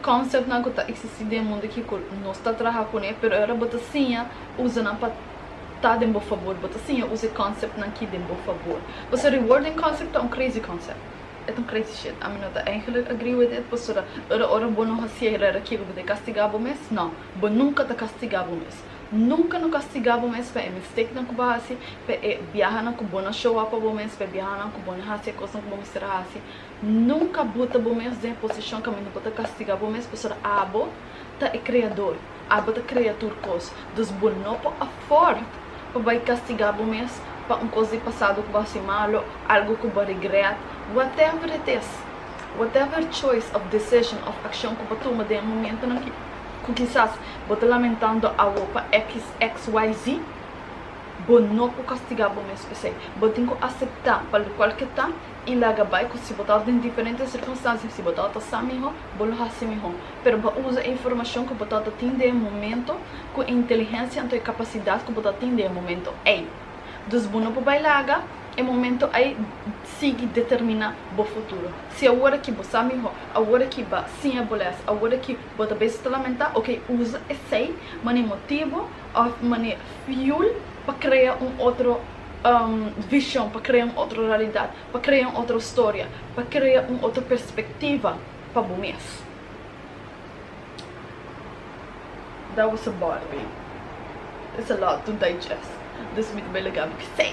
Conceptnan cu ta existi den mundo aki cu nos ta traha cun e, pero ahora bo ta siña usa nan pa ta den bo fabor, bo ta siña usa e conceptnan aki den bo fabor. Pasobra rewarding concept ta un crazy concept, e ta un crazy shit, ami no ta eindelijk agree with it, pasobra ahora ora bo no haci e rara kico bo ta e castiga bo mes, no, bo nunca ta castiga bo mes, nunca no castiga bo mes pa e mistakenan cu bo a haci, pa e biahanan cu bo no show up pa bo mes, pa e biahanan cu bo no haci e cosnan cu bo mester a haci, Nunka bu ta bu mes den e posishon kaminda bo ta kastiga bo mes, pasobra abo ta e Kreador, abo ta krea tur kos. Dus bo no por afòrd pa bai kastiga bo mes pa un kos di pasado ku bo a hasi malu, algu ku bo a rigrèt. Whatever it is, whatever choice of decision of akshon ku bo a tuma den e momentunan ku kisas bo ta lamentando awo pa XXYZ, bo no por kastiga bo mes pa esei. Bo tin ku aseptá pa lokual ke ta i laga bai ku si bo ta den diferente sirkunstansia si bo ta ta sa mihó bo lo hasi mihó pero bo a usa e informashon ku bo ta ta tin den e momento ku e intelihensia anto e kapasidat ku bo ta tin den e momento ei dus bo no por bai laga e momento ei sigui determiná bo futuro si awor aki bo sa mihó awor aki ba siña bo lès awor aki bo ta bes ta lamentá oke usa esei manera motibu òf manera fiul pa krea un otro. vishon, pa krea un otro realidat, pa krea un otro storia, pa krea un otro perspektiva pa bo mes. Dat was a barbie. It's a lot to digest, dus mi ta bai lagando kisei.